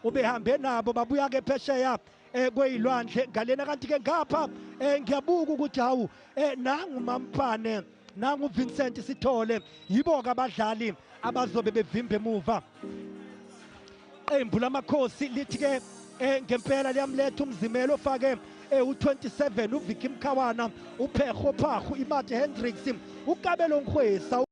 ubehambe nabo babuya ke phesheya eh kweyilwandle ngalena kanti ke ngapha eh ngiyabuka ukuthi hawu eh nangu mampane nangu Vincent Sithole yibo ke abadlali abazobe bevimba emuva qembu lamakhosi lithi ke eh ngempela liyamletha umzimelo ofake eh u27 uVicky Mkhawana uPheho Phahu iMate Hendricks ukabelo Nkhwesa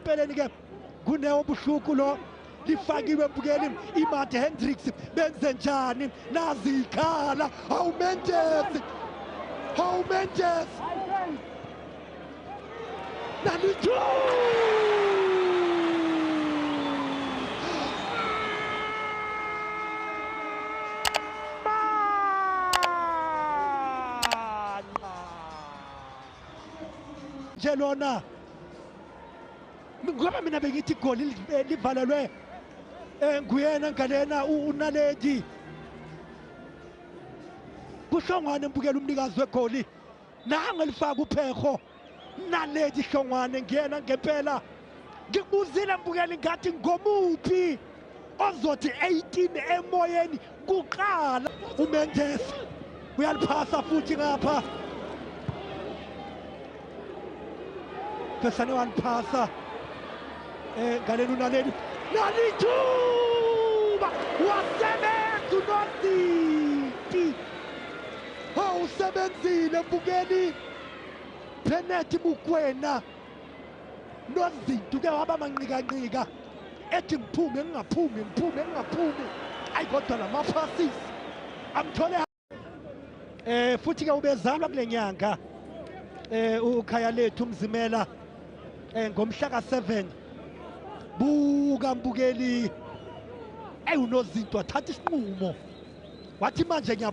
empeleni ke kunewo buhluku lo lifakiwe bukeli imad hendricks benze njani nazi ikhala hawu mendes hawu mendes nanijo Bye. nje lona ngoba mina bengithi igoli livalelwe eh, nguyena ngalena unaledi kuhlongwane mbukela umnikazi wegoli nangelifaka upheho naledi hlongwane ngiyena ngempela ngibuzile mbukeli ngathi ngomuphi ozothi 18 emoyeni kuqala umendes uyaliphasa futhi ngapha phesane waliphasa eh ngaleli unaleli nalithuba wasebenza unozinti hawu usebenzile mbukeli Penalty Mukwena nozinti uke waba manqikanqika ethi ngiphume ngingaphumi ngiphume ngingaphumi ayi kodwa la maphasis amthole eh futhi-ke ubezalwa kule nyanga eh ukhaya lethu umzimela eh ngomhla ka-7 buka mbukeli eyi unozinto wathatha isinqumo wathi manje ngiya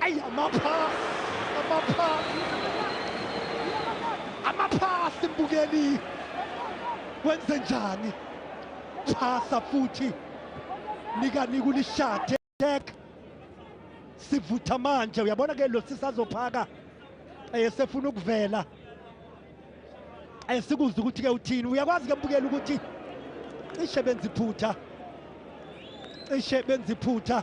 Ayi amaphasi, amaphasi. Amaphasi mbukeli. Wenze njani? Phasa futhi. Nika nika ulishade. Check. Sivutha manje uyabona ke lo sisazophaka. Esefuna ukuvela. Esikuzwe ukuthi ke uthini. Uyakwazi ke mbukeli ukuthi cishe benziphutha. Cishe benziphutha.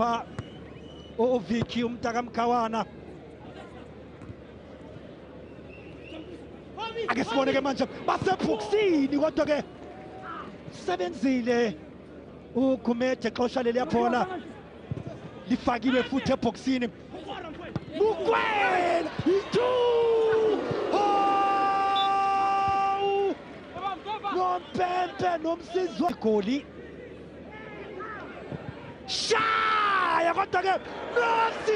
pha uviki umtaka mkhawana ake sibone ke manje basebhuksini kodwa ke sebenzile ugumeje xosha leliya bhola lifakiwe futhi ebhokisini bukwela itu nompempe nomsizwa igoli shaya kodwa ke nasi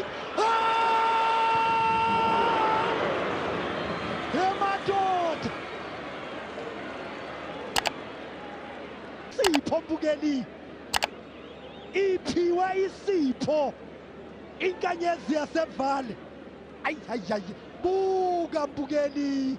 emadoda sipho mbukeli iphiwe isipho inkanyezi yasevale ayi hayi hayi buka mbukeli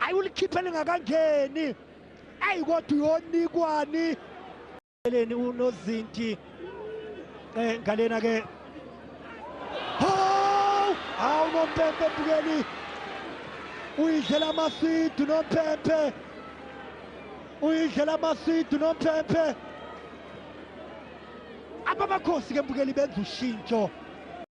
ayi ulikhiphe lingakangeni ayi kodwa uyonikwani eleni unozinti eh ngalena ke hawu hawu nompempe bukeli uyidlela amasidu nompempe uyidlela amasidu nompempe abamakhosi ke mbukeli benza ushintsho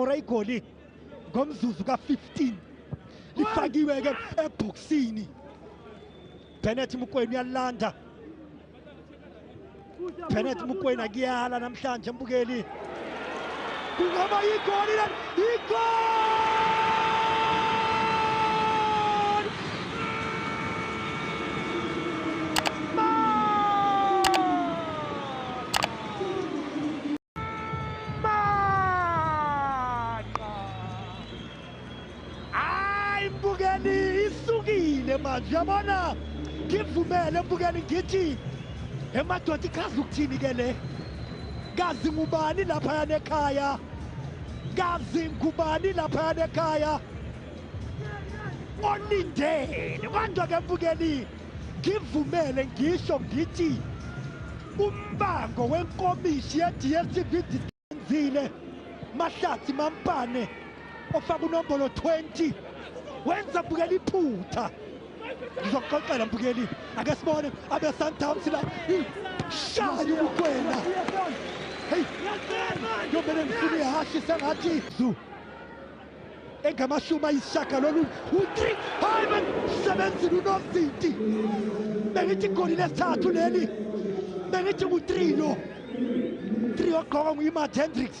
kora igoli ngomzuzu ka-15 lifakiwe-ke ebhokisini benet mukweni uyalilanda benet mukweni akuyala namhlanje mbukeli kungaba yigoli leli yigoli ngivumele manje yabona ngivumele mbukeni ngithi emadoda ikhazi ukuthini ke le kazi ngubani laphaya nekhaya kazi ngubani laphaya nekhaya olindele kwanjwa ke mbukeni Ngivumele ngisho ngithi umbango wenkomishi ye-DSTV Ndizenzile Mahlathi Mampane ofaka unombolo 20 wenza bukela iphutha ngizokuxoxela mbukeli ake sibone abesundowns la shaya ubukwena heyi yomele ngifuna ihhashi sengathi zu engamashumi ayishagalolunye u-three hayi bengimsebenzile unozinti bengithi igoli lesithathu leli bengithi ngu-three lo three ogqoka nguyimat hendricks